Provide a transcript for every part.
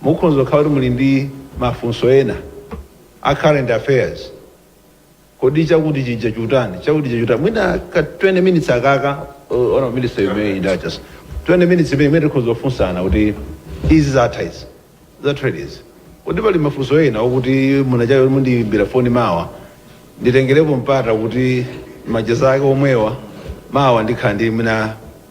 Mukhonza kukhala kuti muli ndi mafunso ena a current affairs. Kodi chakuti chija chutani? Chakuti chija chutani? Mwina ka 20 minutes akaka, uh, honourable minister you may indulge us. 20 minutes imene tikhonza kufunsana kuti izi zathazi. Za trade izi. Kodi pali mafunso ena okuti muna chayo kuti mundiyimbire foni mawa. Nditengerepo mpata kuti macheza ake omwewa mawa ndikhala ndi mwina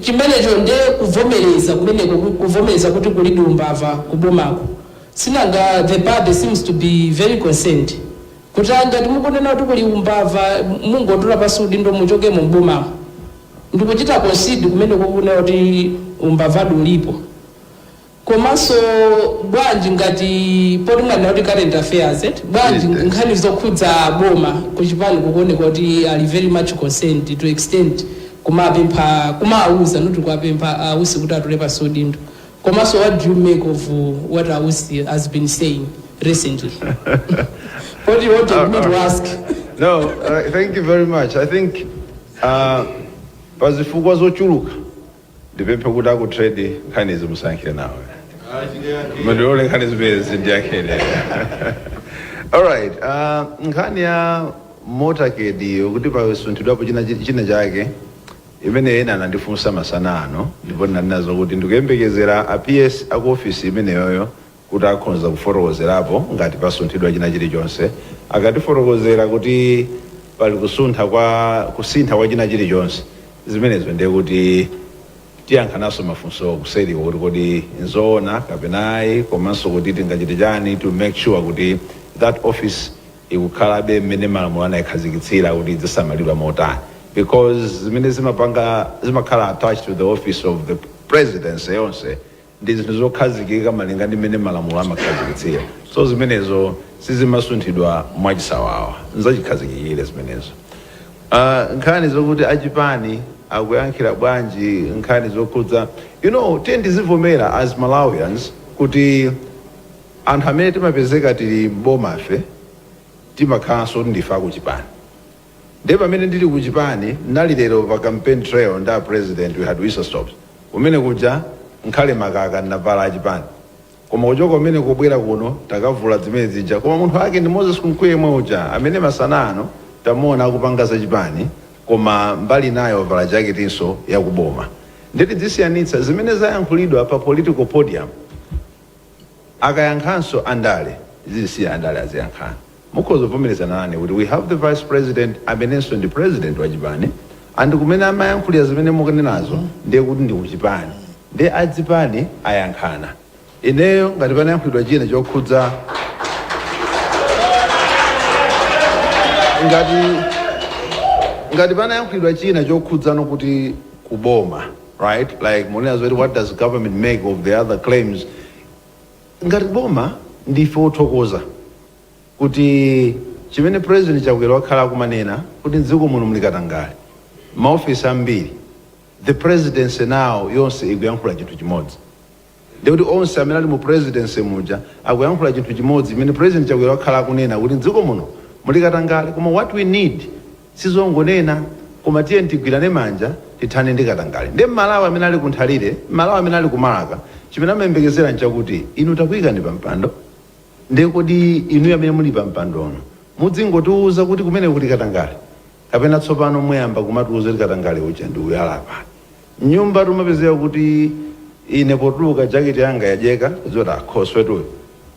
Chimenecho ndi kuvomereza kumeneko kuvomereza kuti kulidi umbava ku bomako sinanga the party seems to be very concerned kuti ayi ngati mukunena kuti kuli umbava mungotula pansi udindo muchokemo m'bomamo ndikuchita concede kumene kukunena kuti umbavadi ulipo. Komanso bwanji ngati poti mwanena kuti current affairs eti, bwanji nkhani zokhudza boma kuchipani kukuoneka kuti ali very much concerned to extent kumapempha kumawauza osati kuwapempha a Usi kuti atule pansi udindo komanso what do you make of what a Usi has been saying recently? Poti you wanted me to ask. No, uh, thank you very much. I think uh, pazifukwa zochuluka Ndipemphe kuti aku trade nkhani izi musayankhe nawo. Mundilole nkhani zimenezi ndiyankhe ine. Alright, uh, nkhani ya motorcade yokuti pasunthidwapo china chake imene ena anandifunsa masana ano ndipo ndinanena zokuti ndikuyembekezera a PS aku office imeneyoyo kuti akhonza kufotokozerapo ngati pasunthidwa china chilichonse. Akatifotokozera kuti pali kusuntha kwa kusintha kwa china chilichonse zimenezo ndiye kuti tiyankhanso mafunsowo kuseriko kuti kodi nzoona kapena ayi komanso kuti tingachite chani to make sure kuti that office ikukhalabe mmene malamulo anaikhazikitsira kuti idzisamalidwa motani because zimene zimapanga zimakhala attached to the office of the presidency yonse ndi zinthu zokhazikika malinga ndi mmene malamulo amakhazikitsira so zimenezo sizimasunthidwa mwachisawawa nzachikhazikikire zimenezo Ah, nkhani zokuti achipani akuyankhira bwanji nkhani zokhudza you know tiyeni tizivomera as malawians kuti anthu amene timapezeka tili m'bomafe timakhalanso kuti ndife akuchipani Ndiye pamene ndili ku chipani ndinali lero pa campaign trail ndi a president we had whistle stops kumene kuja ngakhale makaka ndinavala a chipani koma kuchoka kumene kubwera kuno takavula zimene zija koma munthu ake ndi Moses Kunkuyu yemwe uja amene masana ano tamuona akupanga za chipani koma mbali inayo wavala jaketinso ya ku boma. Ndiye tidzisiyanitsa zimene zayankhulidwa pa political podium. Akayankhanso andale tizisiye andale aziyankhana. Mukhoza kuvomerezana nane kuti we have the vice president amenenso ndi president wa chipani and kumene amayankhulira zimene mukunenazo ndiye kuti ndi kuchipani ndiye a zipani ayankhana. Ineyo ngati panayankhulidwa china chokhudza ngati ngati panayankhulidwa china chokhudzana kuti kuboma right like mukunena zoti what does government make of the other claims ngati boma ndife othokoza kuti chimene president chakwera wakhala akumanena kuti mdziko muno muli katangale maofesi ambiri the presidency now yonse ikuyankhula chinthu chimodzi Ndiye kuti onse amene ali mu presidency muja akuyankhula chinthu chimodzi chimene president Chakwera wakhala akunena kuti mdziko muno muli katangale koma what we need sizongonena koma tiyeni tigwirane manja tithane ndi katangale. Ndiye mMalawi amene ali ku Nthalire, mMalawi amene ali ku Marka chimene amayembekezera nchakuti inu takuikani pa mpando ndiye kodi inuyo amene muli pa mpandonu mudzingotiuza kuti kumeneko kuli katangale? Kapena tsopano muyamba kumatiuza kuti katangale uja ndi uyu ali apa? M'nyumba tumapezeka kuti ine potuluka jakete yanga yadyeka, kudziwa kuti ah, khoswetu uyu.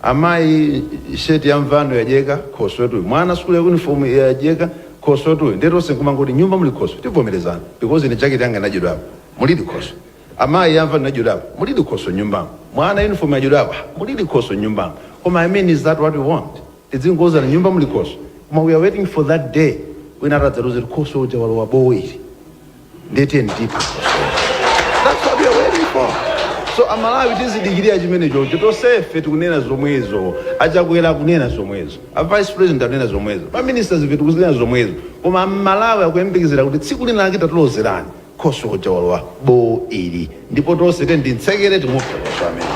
Amayi shirt ya mvano yadyeka, khoswetu uyu. Mwana sukulu uniform yadyeka, khoswetu uyu. Ndiye tonse nkumangoti m'nyumba muli khoswe, tikuvomerezana because ine jakete yanga inadyedwapo, mulidi khoswe. Amayi ya mvano inadyedwapo, mulidi khoswe m'nyumbamo. Mwana uniform yadyedwapo, ah, mulidi khoswe m'nyumbamo. Koma I mean is that what we want? Tidzingouzana m'nyumba muli khoswe koma we are waiting for that day wina ati adzaloze kuti khoswe uja walowa bowo ili ndiye tiyeni tiphe khosweyo that's what we are waiting for so amalawi tizidikirira chimenechocho tonsefe tikunena zomwezo achakwera akunena zomwezo a vice president akunena zomwezo ma ministers ife tikunena zomwezo koma amalawi akuyembekezera kuti tsiku lina lake tatilozerani khoswe uja walowa bowo ili ndipo tonse tiyeni timtsekere timuphe khoswe ameneyo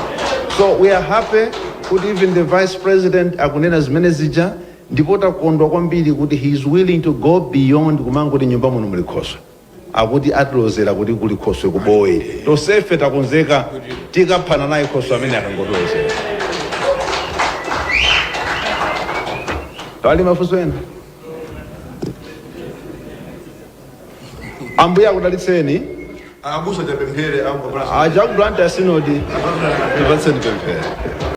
so we are happy kuti even the vice president akunena zimene zija ndipo takondwa kwambiri kuti he is willing to go beyond kumangoti m'nyumba muno muli khoswe akuti atilozera kuti kuli khoswe ku bowo ili tonsefe takonzeka tikaphana naye khoswe amene akangotilozera pali mafunso ena Ambuye akudalitseni. Abusa tapemphere abusa. Aja a ku Blantyre sinodi tipatseni pemphero.